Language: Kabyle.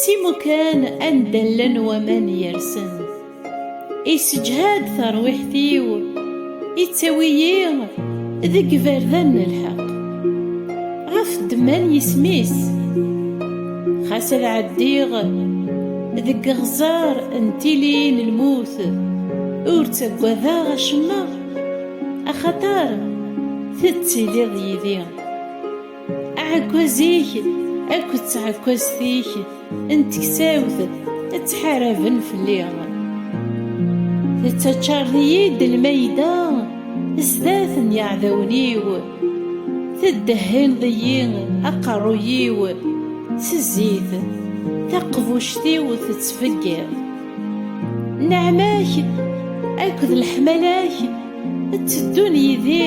S imukan anda llan waman yersen Isseǧhad tarwiḥt-iw Ittawi-yi deg iberdan n lḥeq Ɣef ddemma n yisem-is Xas ad ɛeddiɣ deg iɣẓer n tili n lmut Ur ttaggadeɣ acemma Axaṭer tettiliḍ yid-i Aɛekkaz-ik akked tɛekkazt-ik n teksawt ttḥaraben fell-i. Tettaččareḍ-iyi-d lmayda sdat n yiɛdawen-iw, teddehhineḍ-iyi aqerruy-iw s zzit, taqbuct-iw tettfeggiḍ. Nneɛma-k akked leḥmala-k tteddun yid-i.